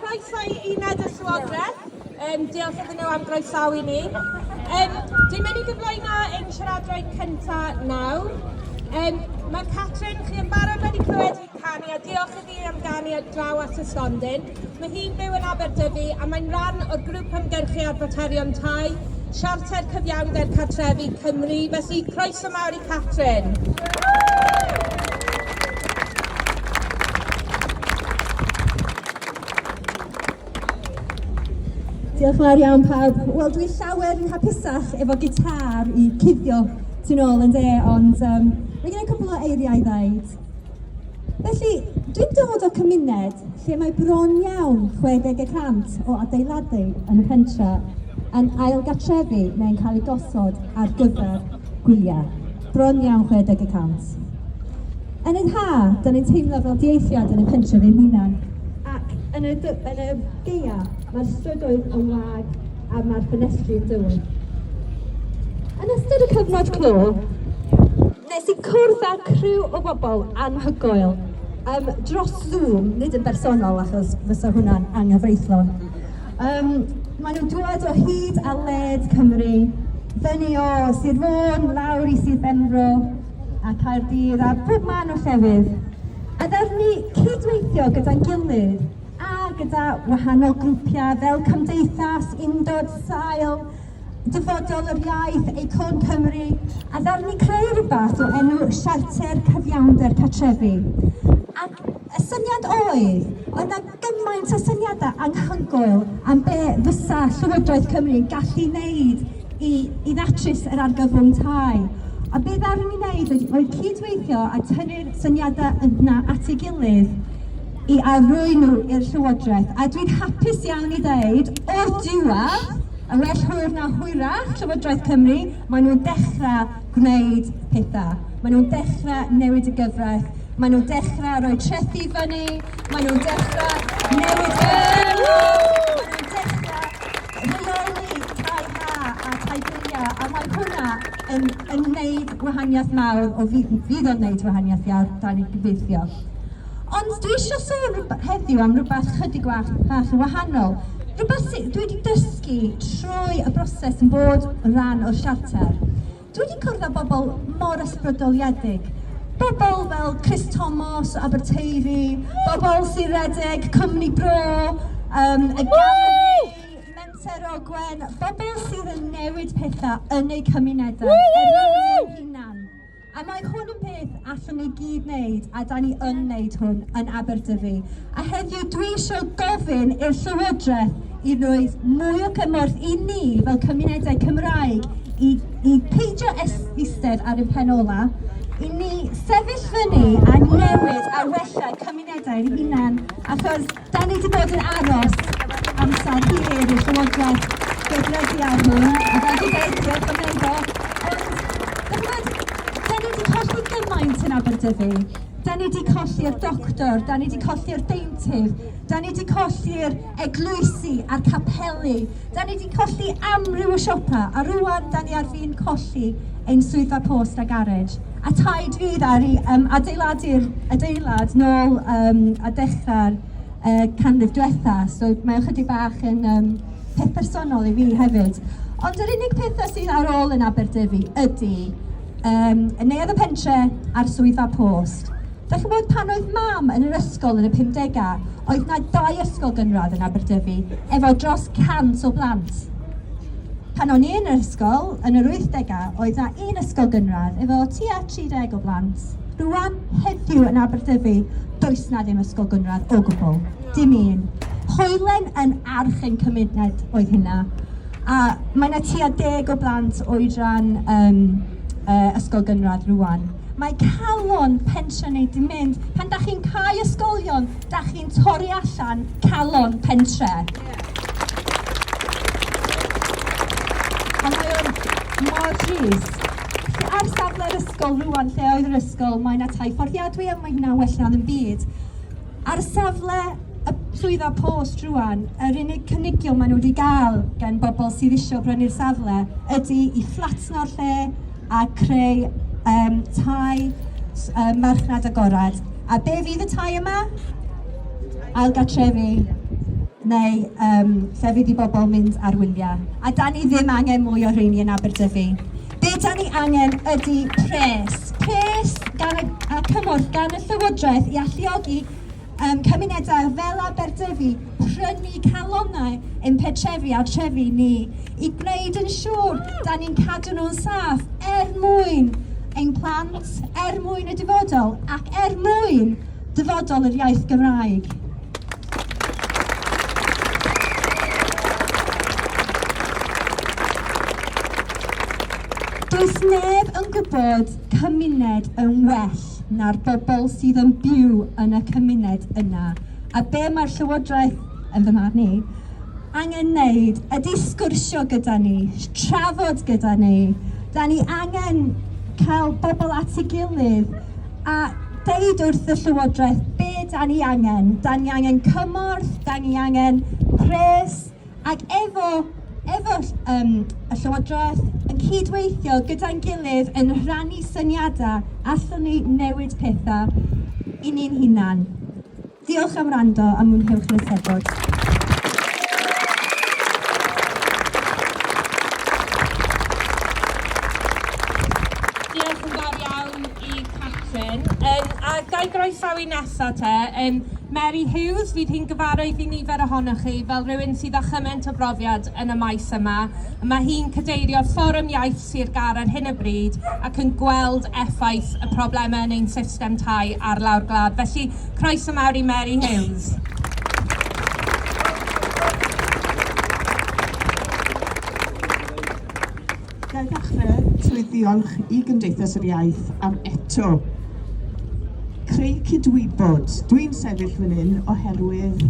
Croeso i Uned y Llywodraeth. Um, diolch iddyn nhw am groesawu ni. Um, dwi'n mynd i gyflwyno ein siaradwraig cyntaf nawr. Um, mae Catrin, chi yn barod wedi clywed hi'n canu a diolch iddi am ganu ar draw at y stondin. Mae hi'n byw yn Aberdyfi a mae'n rhan o'r grŵp ymgyrchu ar faterion tai, siarter cyfiawnder cartrefi Cymru. Felly, croeso mawr i Catrin. Diolch yn fawr iawn pawb. Wel, dwi'n llawer yn hapusach efo gitar i cuddio tu'n ôl yn de, ond um, mae gen i cwbl o eiriau i ddeud. Felly, dwi'n dod o cymuned lle mae bron iawn 60 y cant o adeiladu yn y pentre yn ailgartrefu neu'n cael eu gosod ar gyfer gwyliau. Bron iawn 60 y cant. Yn yr ha, da ni'n teimlo fel dieithiad yn y pentre fy hunan. Ac yn y, yn y geia, mae'r strydoedd yn wag a mae'r ffenestri yn dywyll. Yn ystod y cyfnod clo, Nes i cwrdd â criw o bobl anhygoel, yym, dros Zoom, nid yn bersonol achos fysa hwnna'n anghyfreithlon. Yym, maen nhw'n dŵad o hyd a led Cymru, fyny o Sir Fôn, lawr i Sir Benfro, a Caerdydd, a pob man o llefydd. A ddawn ni cydweithio gyda'n gilydd a gyda wahanol grwpiau fel cymdeithas, undod, sail, Dyfodol yr Iaith, Acorn Cymru, a ddarnu creu rhywbeth o enw Siarter Cyfiawnder Cartrefi. Ac y syniad oedd, oedd 'na gymaint o syniadau anhygoel am be fysa Llywodraeth Cymru yn gallu wneud i i ddatrys yr argyfwng tai. A be ddaru ni wneud oedd oedd cydweithio a tynnu'r syniadau yna at ei gilydd i arwy'n nhw i'r Llywodraeth. A dwi'n hapus iawn i ddeud, o'r diwedd, Yn well hwyr na hwyrach, Llywodraeth Cymru, maen nhw'n dechrau gwneud pethau. Maen nhw'n dechrau newid y gyfraith. Maen nhw'n dechrau rhoi trethi i fyny. Maen nhw'n dechrau newid y yn, yn wneud wahaniaeth mawr, o fydd o'n wneud wahaniaeth iawr, da ni'n gobeithio. Ond dwi isio sôn rwb- heddiw am rywbeth chydig wach- bach yn wahanol, rywbeth sy- dwi wedi dysgu trwy y broses yn bod yn rhan o'r siarter. Dwi wedi cwrdd â bobl mor ysbrydoliedig, bobl fel Chris Thomas o Aberteifi, bobl sy'n redeg cwmni bro, um, y galeri, Menter Ogwen, bobl sydd yn newid pethau yn eu cymunedau, er mwyn eu hunan. A mae hwn yn peth allwn ni gyd wneud, a da ni yn wneud hwn yn Aberdyfi. A heddiw dwi eisiau gofyn i'r Llywodraeth i roi mwy o gymorth i ni fel cymunedau Cymraeg i, i peidio eistedd ar yn pen ola, i ni sefyll fyny a newid a wella cymunedau'n hunan, achos Da ni wedi bod yn aros amser hir i'r Llywodraeth gweithredu ar hwn, a fel dwi'n dweud, diolch am wneud o. Ond, da ni wedi colli gymaint yn Aberdyfi. Da ni wedi colli'r doctor, da ni wedi colli'r deintydd, da ni wedi colli'r eglwysi a'r capeli, Da ni 'di colli amryw o siopa a rŵan da ni ar fin colli ein swyddfa post a garej. A taid fydd ar i um, adeiladu'r adeilad nôl um, a dechrau'r uh, canrif diwetha. So mae ychydig bach yn um, peth personol i fi hefyd. Ond yr unig pethau sydd ar ôl yn Aberdyfi ydy um, y neuadd y pentre a'r swyddfa post. Dach chi'n gwybod, pan oedd Mam yn yr ysgol yn y pumdegau, oedd 'na dau ysgol gynradd yn Aberdyfi, efo dros 100 o blant. Pan o'n i yn yr ysgol, yn yr wythdegau, oedd 'na un ysgol gynradd, efo tua 30 o blant. Rŵan, heddiw, yn Aberdyfi, does 'na ddim ysgol gynradd o gwbl. Dim un. Hoelen yn arch ein cymuned oedd hynna. A mae 'na tua deg o blant oedran um, uh, ysgol gynradd rŵan. Mae calon pensiwn ni 'di mynd. Pan da chi'n cau ysgolion, da chi'n torri allan calon pentre. A mae o'n mor drist. Ar safle'r ysgol rwan, lle oedd yr ysgol, mae yna tai fforddiadwy a mae hynna'n well na ddim byd. Ar safle y Swyddfa Post rŵan, yr unig cynigion maen nhw wedi gael gan bobl sydd isio brynu'r safle ydy i fflatno'r lle a creu um, tai um, marchnad agored. A be fydd y tai yma? Ailgatrefi neu um, llefydd i bobl mynd ar wyliau. A da ni ddim angen mwy o rheini yn Aberdyfi. Be da ni angen ydy pres. Pres gan y, a cymorth gan y Llywodraeth i alluogi um, cymunedau fel Aberdyfi prynu calonnau yn petrefi a trefi ni i gwneud yn siŵr da ni'n cadw nhw'n saff er mwyn ein plant, er mwyn y dyfodol ac er mwyn dyfodol yr iaith Gymraeg. Does neb yn gwybod cymuned yn well na'r bobl sydd yn byw yn y cymuned yna, a be mae'r Llywodraeth, yn fy marn i, angen wneud ydy sgwrsio gyda ni, trafod gyda ni. Da ni angen cael bobl at ei gilydd a deud wrth y Llywodraeth be da ni angen. Da ni angen cymorth, da ni angen pres, ac efo, efo um, y Llywodraeth yn cydweithio gyda'n gilydd yn rhannu syniadau, allwn ni newid pethau i ni'n hunan. Diolch am wrando a mwynhewch yr Eisteddfod. croesawu nesaf te, um, Mary Hughes, fydd hi'n gyfarwydd i nifer ohonoch chi fel rhywun sydd â chymaint o brofiad yn y maes yma. Mae hi'n cadeirio Fforwm Iaith Sir Gar ar hyn o bryd ac yn gweld effaith y problemau yn ein system tai ar lawr glad. Felly, Croeso mawr i Mary Hales. Ga i ddechrau trwy ddiolch i Gymdeithas yr Iaith am eto creu cydwybod. Dwi'n sefyll fan hyn oherwydd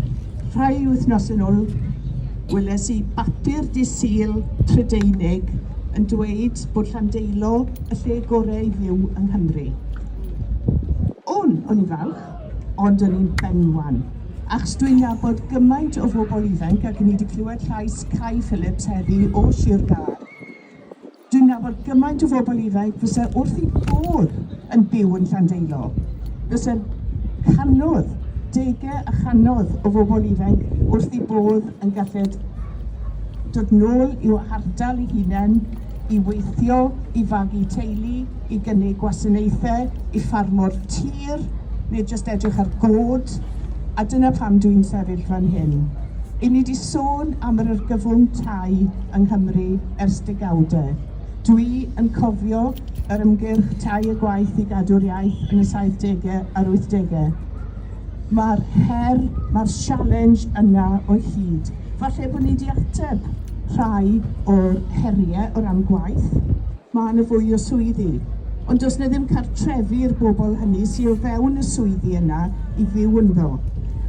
rhai wythnos yn ôl weles i bapur disil Prydeinig yn dweud bod Llandeilo y lle gorau i fyw yng Nghymru. O'n, o'n i'n falch, ond o'n i'n benwan, achos dwi'n nabod gymaint o bobl ifanc, ac ni wedi clywed llais Cai Phillips heddi o Sir Gâr. Dwi'n nabod gymaint o bobl ifanc fysa wrth ei bodd yn byw yn Llandeilo. Fysa canodd, degau a chanodd o bobl ifanc wrth ei bodd yn galled dod nôl i'w hardal ei hunain, i weithio, i fagu teulu, i gynnig gwasanaethau i ffarmwr tir, neu jyst edrych ar god, a dyna pam dw i'n sefyll fan hyn. I ni 'di sôn am yr argyfwng tai yng Nghymru ers degawdau. Dw i yn cofio yr ymgyrch 'Tai a Gwaith i Gadw'r Iaith' yn y saithdegau a'r wythdegau. Mae'r her, mae'r sialens yna o hyd. Falle bod ni wedi ateb rhai o'r heriau o ran gwaith, mae yna fwy o swyddi, ond does 'na ddim cartrefi i'r bobl hynny sy o fewn y swyddi yna i fyw ynddo.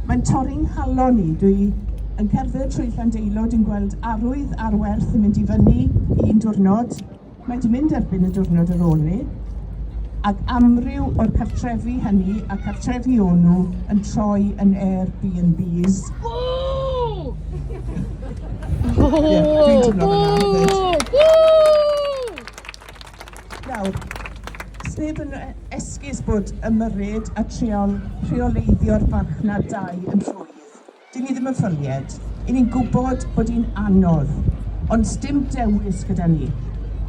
Mae'n torri 'nghalon i, dwi yn cerdded trwy Llandeilo, dwi'n gweld arwydd arwerth yn mynd i fyny un diwrnod, Mae di mynd erbyn y diwrnod ar ôl ni, ac amryw o'r cartrefi hynny a cartrefi o nhw yn troi yn Airbnbs. Nawr, sneb yn esgus bod ymyrryd a trial rheoleiddio'r farchnad dai yn rhwydd. Dyn ni ddim yn ffylied. I ni'n gwybod bod hi'n anodd, ond sdim dewis gyda ni.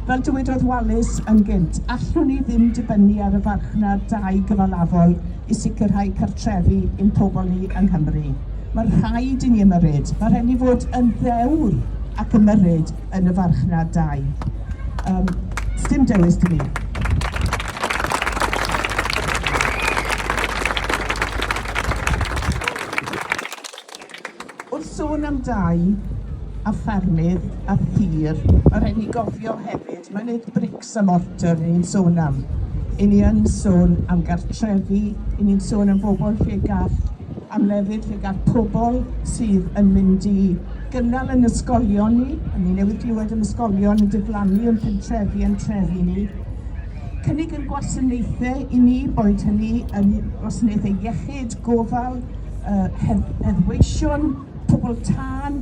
Fel dywedodd Walis yn gynt, allwn ni ddim dibynnu ar y farchnad dai gyfalafol i sicrhau cartrefi i'n pobl ni yng Nghymru. Mae rhaid i ni ymyrryd. Mae rhaid i ni fod yn ddewr ac ymyrryd yn y farchnad dai. Yym, sdim dewis 'da ni. Wrth sôn am dai a ffermydd a thir, ma' rhaid ni gofio hefyd, ma' nid brics a mortar 'yn ni'n sôn am, 'yn ni yn sôn am gartrefi, 'yn ni'n sôn am bobl lle gall, am lefydd lle gall pobl sydd yn mynd i gynnal yn ysgolion ni, a ni newydd glywed am ysgolion yn diflannu o'n pentrefi a'n trefi ni, cynnig ein gwasanaethau i ni, boed hynny yn wasanaethau iechyd, gofal, yy heddweision, pobl tân,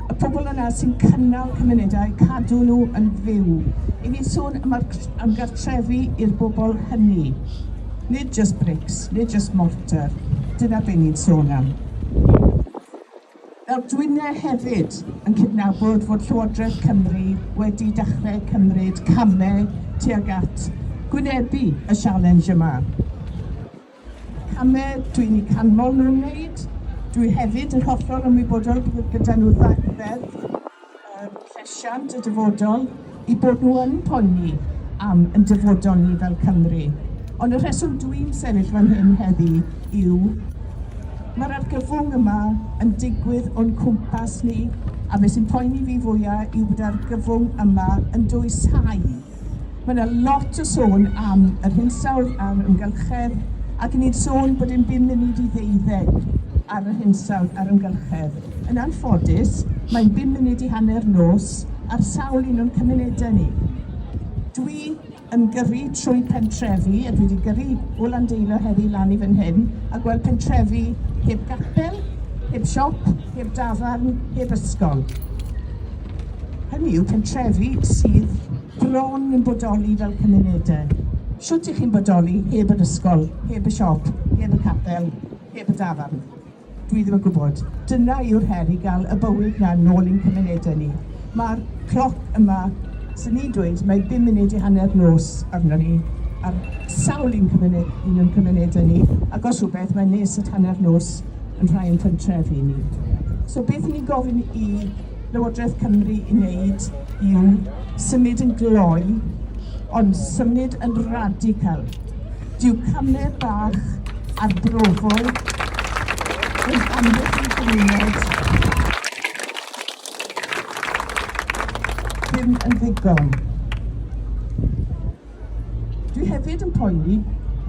y pobl yna sy'n cynnal cymunedau, cadw nhw yn fyw. I ni'n sôn am, am gartrefi i'r bobl hynny. Nid just bricks, nid just mortar. Dyna be ni'n sôn am. Fel Dwynne hefyd yn cydnabod fod Llywodraeth Cymru wedi dechrau cymryd camau tuag at gwynebu y sialens yma. Camau dwi'n eu canmol nhw'n wneud. Dwi hefyd yn hollol ymwybodol bod gyda nhw ddeddf, yr llesiant y dyfodol i bod nhw yn poeni am yn dyfodol ni fel Cymru. Ond y rheswm dwi'n sefyll fan hyn heddi yw mae'r argyfwng yma yn digwydd o'n cwmpas ni a beth sy'n poeni fi fwya yw bod argyfwng yma yn dwysau. Mae yna lot o sôn am yr hinsawdd a'r amgylchedd, ac i ni sôn bod dim byd munud i ddeuddeg ar yr hinsawdd a'r amgylchedd, yn anffodus, mae'n bum munud i hanner nos ar sawl un o'n cymunedau ni. Dwi yn gyrru trwy pentrefi, a dwi wedi gyrru o Landeilo heddi lan i fan hyn, a gweld pentrefi heb gapel, heb siop, heb dafarn, heb ysgol. Hynny yw, pentrefi sydd bron yn bodoli fel cymunedau. Shwt y'ch chi'n bodoli heb yr ysgol, heb y siop, heb y capel, heb y dafarn? Dwi ddim yn gwybod. Dyna yw'r her i gael y bywyd 'na nôl i'n cymunedau ni. Mae'r cloc yma, swn ni'n dweud, mae bum munud i hanner nos arno ni ar sawl un cymuned, un o'n cymunedau ni, ac os rhywbeth mae'n nes at hanner nos yn rhai o'n pentrefi ni. So beth 'yn ni'n gofyn i Lywodraeth Cymru i wneud yw symud yn gloi, ond symud yn radical. Dyw camau bach arbrofol yn amddiffyn cymuned ddim yn ddigon. Dwi hefyd yn poeni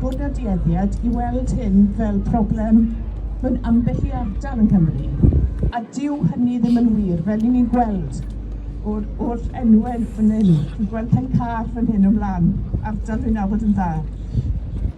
bod 'na dueddiad i weld hyn fel problem mewn ambell i ardal yng Nghymru, a dyw hynny ddim yn wir, fel 'yn ni'n gweld o'r oll enwe fyn 'yn. Dwi'n gweld Pen-car fyn hyn o mlan, ardal dwi'n nabod yn dda.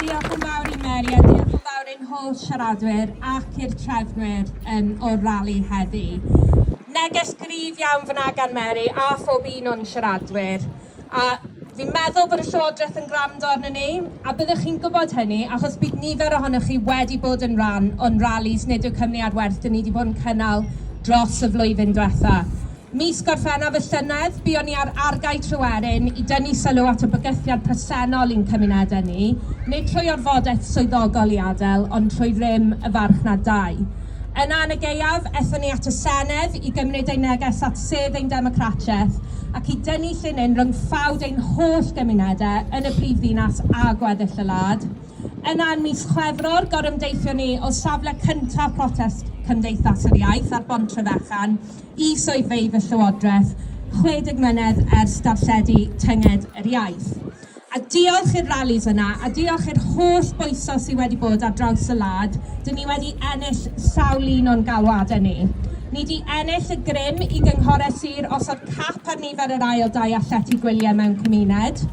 Diolch yn fawr i Mary a diolch yn fawr i'n holl siaradwyr ac i'r trefnwyr yn o'r rali heddi. Neges gryf iawn fyna gan Mary a phob un o'n siaradwyr. A fi'n meddwl bod y Llywodraeth yn gwrando arno ni, a byddwch chi'n gwybod hynny achos bydd nifer ohonoch chi wedi bod yn rhan o'n ralis nid yw cymni ar werth dyn ni wedi bod yn cynnal dros y flwyddyn diwetha. Mis Gorffennaf y llynedd, buon ni ar Argae Tryweryn i dynnu sylw at y bygythiad presennol i'n cymunedau ni, nid trwy orfodaeth swyddogol i adael, ond trwy rym y farchnad dai. Yna, yn y gaeaf, ethon ni at y Senedd i gymryd ein neges at sedd ein democratiaeth ac i dynnu llinyn rhwng ffawd ein holl gymunedau yn y brif ddinas a gweddill y wlad. Yna, yn mis Chwefror, gorymdeithion ni o safle cyntaf protest Cymdeithas yr Iaith ar Bontrefechan, Y swyddfeydd y Llywodraeth 60 mlynedd ers darlledu Tynged yr Iaith. A diolch i'r rallis yna, a diolch i'r holl bwyso sy wedi bod ar draws y wlad, dyn ni wedi ennill sawl un o'n galwadau ni. Ni 'di ennill y grym i gynghorau sir osod cap ar nifer yr ail dai a llety gwyliau mewn cymuned.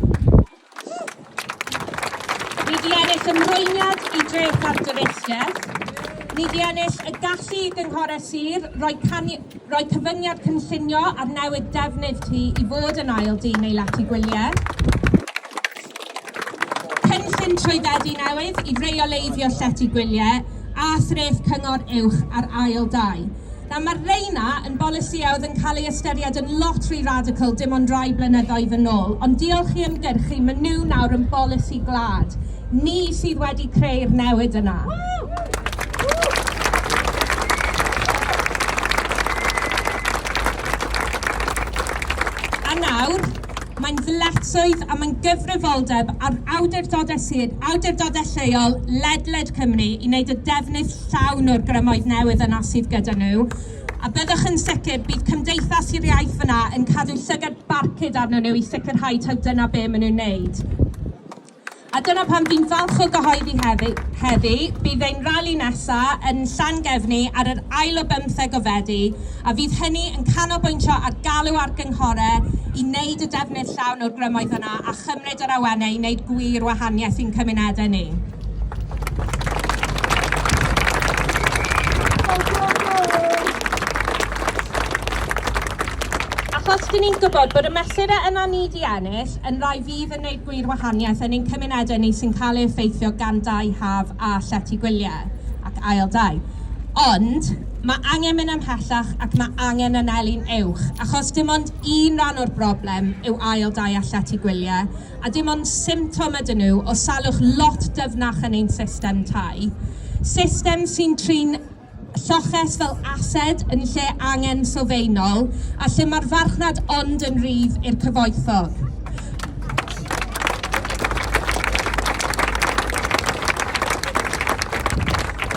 Ni di ennill ymrwymiad i dreth ar dyfeisiaeth. Ni di ennill y gallu i gynghorau sir roi, cani, roi cyfyngiad cynllunio ar newid defnydd ti i fod yn ail dyn neu lati gwyliau. Cynllun trwyddedu newydd i reoleiddio llety gwyliau a threth cyngor uwch ar ail dai. Nawr, mae'r rheina yn bolisïau oedd yn cael eu ystyried yn lot rhy radical dim ond rai blynyddoedd yn ôl, ond diolch i ymgyrchu, maen nhw nawr yn bolisi gwlad. Ni sydd wedi creu'r newid yna. A nawr, Mae'n ddyletswydd a mae'n gyfrifoldeb ar awdurdodau sir, awdurdodau lleol, ledled Cymru i wneud y defnydd llawn o'r grymoedd newydd yna sydd gyda nhw, a byddwch yn sicr bydd Cymdeithas yr Iaith fan'na yn cadw llygad barcud arnyn nhw i sicrhau taw dyna be maen nhw'n wneud. A dyna pam fi'n falch o gyhoeddi heddi, heddi, bydd ein rali nesa yn Llangefni ar yr ail o bymtheg o Fedi, a fydd hynny yn canolbwyntio ar galw ar gynghore i wneud y defnydd llawn o'r grymoedd yna a chymryd yr awenne i wneud gwir wahaniaeth i'n cymunedau ni. Achos dyn ni'n gwybod bod y mesurau yna ni di ennill yn rai fydd yn wneud gwir wahaniaeth yn ein cymunedau ni sy'n cael ei effeithio gan dai haf a llety gwyliau ac ail dai. Ond mae angen mynd ymhellach ac mae angen anelu'n uwch, achos dim ond un rhan o'r broblem yw ail dai a llety gwyliau, a dim ond symptom ydyn nhw o salwch lot dyfnach yn ein system tai, system sy'n trin lloches fel ased yn lle angen sylfaenol a lle mae'r farchnad ond yn rhydd i'r cyfoethog.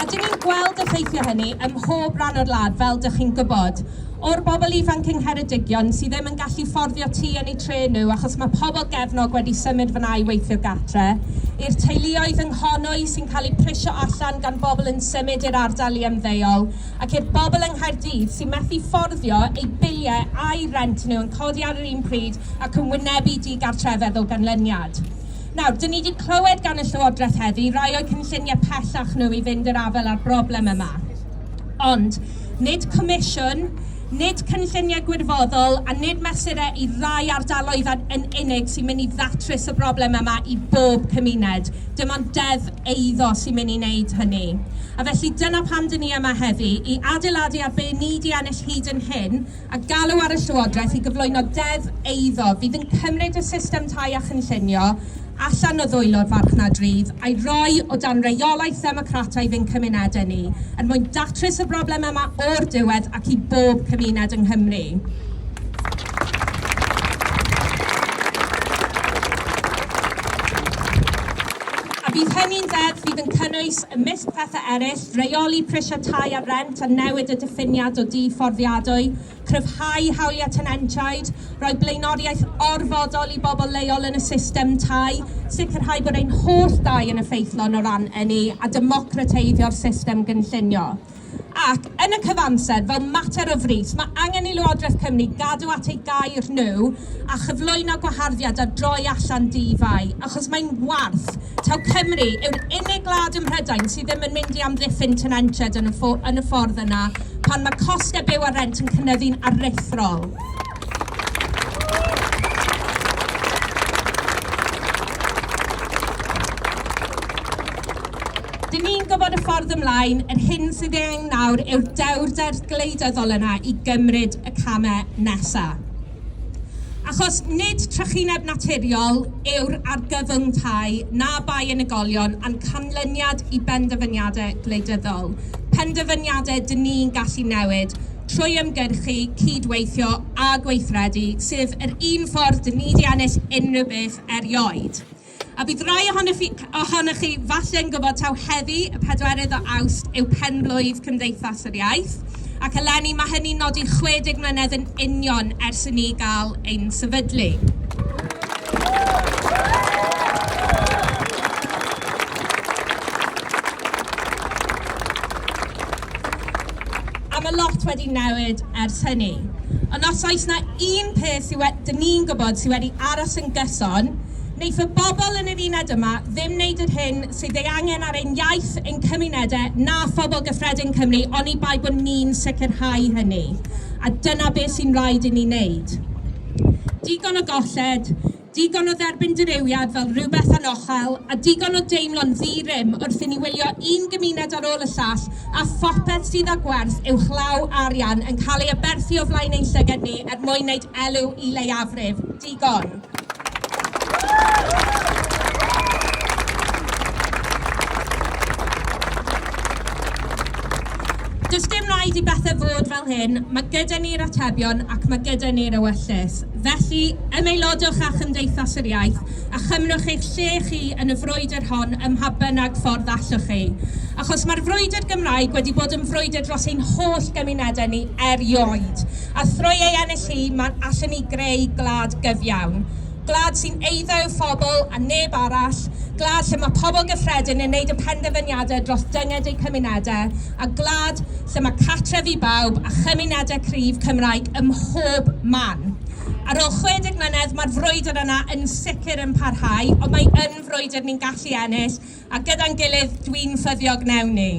A dyn ni'n gweld effeithio hynny ym mhob rhan o'r wlad, fel dych chi'n gwybod. O'r bobl ifanc yng Ngheredigion sydd ddim yn gallu fforddio tŷ yn eu tre nhw achos mae pobl gefnog wedi symud fan'na i weithio gartre, i'r teuluoedd yng Nghonwy sy'n cael eu prisio allan gan bobl yn symud i'r ardal i ymddeol ac i'r bobl yng Nghaerdydd sy'n methu fforddio eu biliau a'u rhent nhw yn codi ar yr un pryd ac yn wynebu digartrefedd o ganlyniad. Nawr, 'dyn ni 'di clywed gan y Llywodraeth heddi rai o'u cynlluniau pellach nhw i fynd i'r afael â'r broblem yma. Ond, nid comisiwn, nid cynlluniau gwirfoddol a nid mesurau i rai ardaloedd yn unig sy'n mynd i ddatrys y broblem yma i bob cymuned. Dim ond deddf eiddo sy'n mynd i wneud hynny. A felly dyna pam dŷn ni yma heddi, i adeiladu ar be ni 'di ennill hyd yn hyn, a galw ar y Llywodraeth i gyflwyno deddf eiddo fydd yn cymryd y system tai a chynllunio allan o ddwylo'r farchnad rydd a'i roi o dan reolaeth ddemocrataidd ein cymunedau ni, er mwyn datrys y broblem yma o'r diwedd ac i bob cymuned yng Nghymru. A bydd hynny'n ddeddf fydd yn cynnwys, ymysg pethau eraill, Rheoli prisiau tai a rhent a newid y diffiniad o dŷ fforddiadwy, cryfhau hawliau tenantiaid, rhoi blaenoriaeth orfodol i bobl leol yn y system tai, sicrhau bod ein holl dai yn effeithlon o ran ynni a democrateiddio'r system gynllunio. Ac, yn y cyfamser, fel mater o frys, mae angen i Lywodraeth Cymru gadw at eu gair nhw a chyflwyno gwaharddiad ar droi allan dŷ fai, achos mae'n warth, taw Cymru yw'r unig gwlad ym Mhrydain sydd ddim yn mynd i amddiffyn tenantiaid yn y, ffo, yn y ffordd yna pan mae costau byw a rent yn cynyddu'n aruthrol. Dyn ni'n gwybod y ffordd ymlaen, yr hyn sydd ei angen nawr yw'r dewrder gwleidyddol yna i gymryd y camau nesaf. Achos nid trychineb naturiol yw'r argyfyngtai na bai unigolion a'n canlyniad i benderfyniadau gwleidyddol, penderfyniadau dŷn ni'n gallu newid trwy ymgyrchu, cyd-weithio a gweithredu, sef yr un ffordd dŷn ni 'di ennill unrhyw beth erioed. A bydd rhai ohonoch chi falle'n gwybod taw heddi, y pedwerydd o Awst, yw pen-blwydd Cymdeithas yr Iaith, ac eleni mae hynny'n nodi 60 mlynedd yn union ers i ni gael ein sefydlu. A mae lot wedi newid ers hynny. Ond os oes na un peth sydd wedi, dyn ni'n gwybod sydd wedi aros yn gyson, wneith y bobl yn yr uned yma ddim wneud yr hyn sydd ei angen ar ein iaith, ein cymunedau, na phobl gyffredin Cymru, oni bai bod ni'n sicrhau hynny. A dyna beth sy'n rhaid i ni wneud. Digon o golled, Digon o dderbyn dirywiad fel rhywbeth anochel, a digon o deimlo'n ddi-rym wrth i ni wylio un gymuned ar ôl y llall a phopeth sydd â gwerth uwchlaw arian yn cael ei aberthu o flaen ein llyged ni er mwyn wneud elw i leiafrif. Digon! Does dim rhaid i bethau fod fel hyn, mae gyda ni'r atebion ac mae gyda ni'r ewyllys. Felly, ymaelodwch â Chymdeithas yr Iaith a chymrwch eich lle chi yn y frwydr hon ym mha bynnag ffordd allwch ei. Achos mae'r frwydr Gymraeg wedi bod yn frwydr dros ein holl gymunedau ni erioed, a thrwy ei ennill hi mae allen ni greu gwlad gyfiawn. Gwlad sy'n eiddo yw phobl a neb arall, gwlad lle mae pobl gyffredin yn neud y penderfyniadau dros dynged eu cymunedau a gwlad lle mae cartref i bawb a chymunedau cryf Cymraeg ym mhob man. Ar ôl 60 mlynedd, mae'r frwydr yna yn sicr yn parhau, ond mae yn frwydr ni'n gallu ennill, a gyda'n gilydd, dwi'n ffyddiog wnewn ni.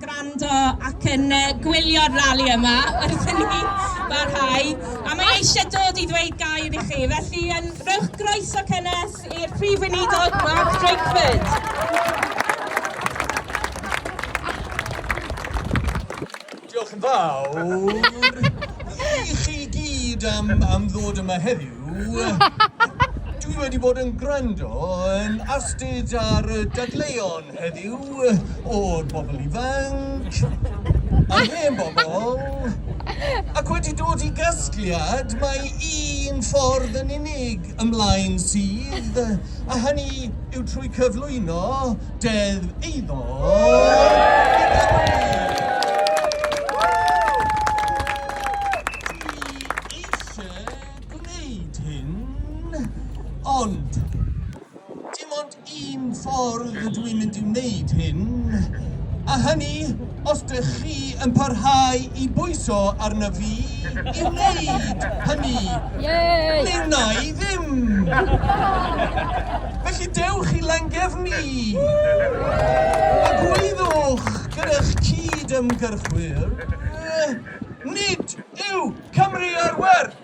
gwrando ac yn uh, gwylio'r rali yma wrth i ni barhau. A mae eisiau dod i ddweud gair i chi, felly yn rhywch groeso cynnes i'r Prif Weinidog Mark Drakeford. Diolch yn fawr i chi gyd am, am ddod yma heddiw. Dwi wedi bod yn gwrando yn astud ar y dadleuon Heddiw, o'r bobl ifanc, a'r hen bobl, ac wedi dod i gasgliad, mae un ffordd yn unig ymlaen sydd, a hynny yw trwy cyflwyno Deddf Eiddo Dwi eisiau gwneud hyn, ond Un ffordd ydw i'n mynd i wneud hyn, a hynny os dych chi yn parhau i bwyso arna fi i wneud hynny. Mi wna i ddim! Felly dewch i Langefni a gweithwch gyda'ch cyd-ymgyrchwyr, nid yw Cymru ar werth!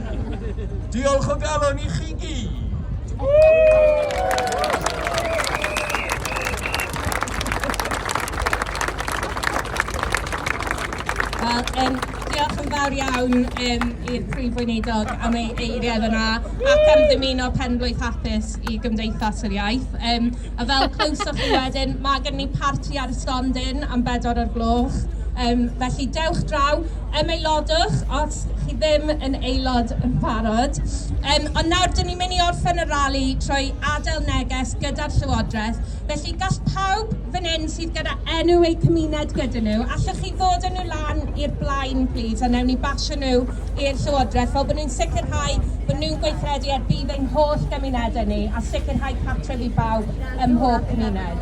Diolch o galon i chi Wel, um, diolch yn fawr iawn um, i'r Prif Weinidog am ei eiriau yna ac am ddymuno penblwydd hapus i Gymdeithas yr Iaith. Um, A fel clywsoch chi wedyn, mae gen ni parti ar y stondin am bedwar o'r gloch. Um, felly dewch draw, ymaelodwch os chi ddim yn aelod yn barod. Um, ond nawr, dyn ni'n mynd i orffen y rali trwy adael neges gyda'r Llywodraeth. Felly gall pawb fan hyn sydd gyda enw eu cymuned gyda nhw, allwch chi fod yn nhw lan i'r blaen, plîs, a newn ni basio nhw i'r Llywodraeth fel bod nhw'n sicrhau bod nhw'n gweithredu ar budd ein holl gymunedau ni a sicrhau cartref i bawb ym mhob cymuned.